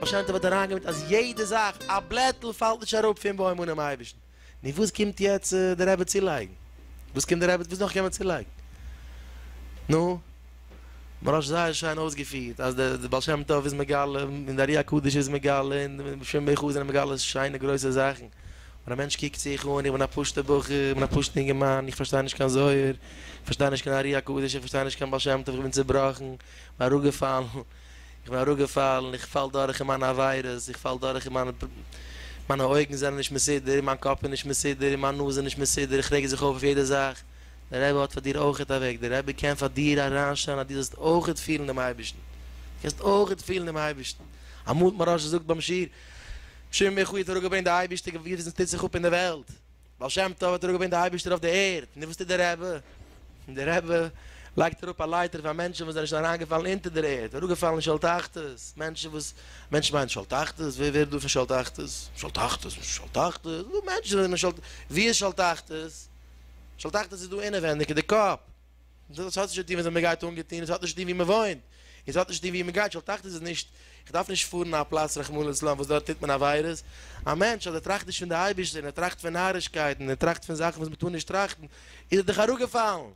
באשיינט האב איך אריינגעמיט אז יעדע זאך, א בלעטל פאלט נישט אראפ פון בוים אנעם אייבערשטן. נו וואס קומט יעצט די רבי צולייגן? וואס קומט די רבי, וואס נאך קען מען צולייגן? נו. ממש זייער שיין אויסגעפירט אז די בעל שם טוב איז מגלה און די ארי הקדוש איז מגלה און בשם בע ח זענען מגלה שיינע גרויסע זאכן און א מענטש קוקט זיך אן איך בין א פשוטע בחור איך בין א פשוטע אינגערמאן איך פארשטיי נישט קיין זוהר איך פארשטיי נישט קיין ארי הקדוש איך פארשטיי נישט קיין בעל שם טוב איך בין צעבראכן איך בין אראפגעפאלן איך בין אראפגעפאלן איך פאל דורך אין מיינע עבירות איך פאל דורך אין מיינע מיינע אויגן זענען נישט מסודר און מיין קאפ איז נישט מסודר און מיין נאז איז נישט מסודר איך רעג זיך אויף אויף יעדע זאך. דער רבי האט פאר דיר אויכעט א וועג, דער רבי קען פאר דיר אריינשטעלן אז דו זאלסט אויכעט פילן דעם אייבערשטן, דו קענסט אויכעט פילן דעם אייבערשטן, אמאל האט מהרא ש געזאגט ביים שיעור, שמעון בן יוחאי האט אראפ געברענגט די אייבערשטע געפיל וואס טוט זיך אפ אין די וועלט, בעל שם טוב האט אראפ געברענגט די אייבערשטער אויף די ערד, נו וואס טוט דער רבי? דער רבי לייגט אראפ א לייטער פאר מענטשן וואס זענען שוין אריינגעפאלן אונטער דער ערד, אראפגעפאלן אין שאול תחתית, מענטשן וואס, מענטשן מיינט שאול תחתית, ווער ווערט דא פון שאול תחתית? שאול תחתית? וואס איז שאול תחתית? ס'דא מענטשן וואס זענען אין שאול, ווי איז שאול תחתית? איך האב געדאכט עס איז דא אינעווענדיג אין די קאפ. דאס האט נישט צו טון ווי אזוי מען גייט אנגעטון, עס האט נישט צו טון ווי מען וואוינט, עס האט נישט צו טון ווי מען גייט, איך האב געדאכט עס איז נישט, איך דארף נישט פארן אין א פלאץ רחמנא לצלן וואס דארט טוט מען עבירות, א מענטש אז ער טראכט נישט פון די אייבערשטער און ער טראכט פון נארישקייטן און ער טראכט פון זאכן וואס מען טאר נישט טראכטן, איז ער דאך אראפגעפאלן.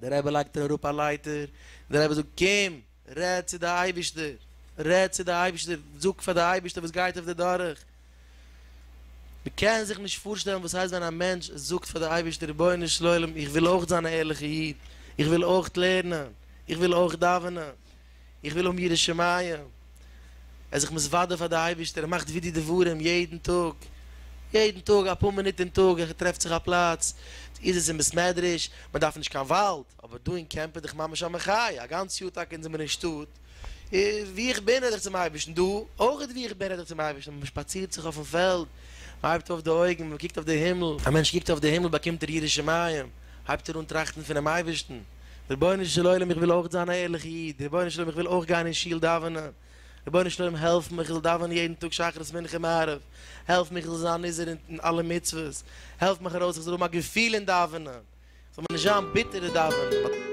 דער רבי לייגט איר אראפ א לייטער, דער רבי זאגט, קום, רעד צו די אייבישטער, רעד צו די אייבישטער, זאג פאר די אייבישטער וואס גייט אויף דיר דורך. מען קען זיך נישט פארשטעלן וואס הייסט ווען א מענטש זאגט פאר די אייבישטער, רבונו של עולם, איך וויל אויך זיין א ערליכע איד, איך וויל אויך לערנען, איך וויל אויך דאווענען, איך וויל האבן יראת שמים, ער איז זיך מתוודה פאר די אייבערשטער, ער מאכט ווידוי דברים יעדן טאג, יעדן טאג אפאר מינוט אין טאג, ער טרעפט זיך א פלאץ, איז עס אין בית מדרש, מען דארף נישט קיין וואלד, אבער דא אין קעמפ איז דאך ממש א מחיה, א גאנץ יאר טאקע זענען מיר אין שטאט, ווי איך בין רעד איך צום אייבערשטן, דא אויך ווי איך בין רעד איך צום אייבערשטן, מען שפאצירט זיך אויפן פעלד, מען הייבט אויף די אויגן, מען קוקט אויף די הימל. א מענטש קוקט אויף די הימל באקומט ער יראת שמים, הייבט ער אן טראכטן פונעם אייבערשטן. רבונו של עולם איך וויל אויך זיין א ערליכע איד, רבונו של עולם איך וויל אויך גיין אין שול דאווענען, רבונו של עולם העלף מיך איך זאל דאווענען יעדן טאג שחרית מנחה מעריב, העלף מיך איך זאל זיין נזהר אין אלע מצוות, העלף מיך ארויס איך זאל האבן א געפיל אין דאווענען, איך זאל מיר נישט זיין ביטער אין דאווענען.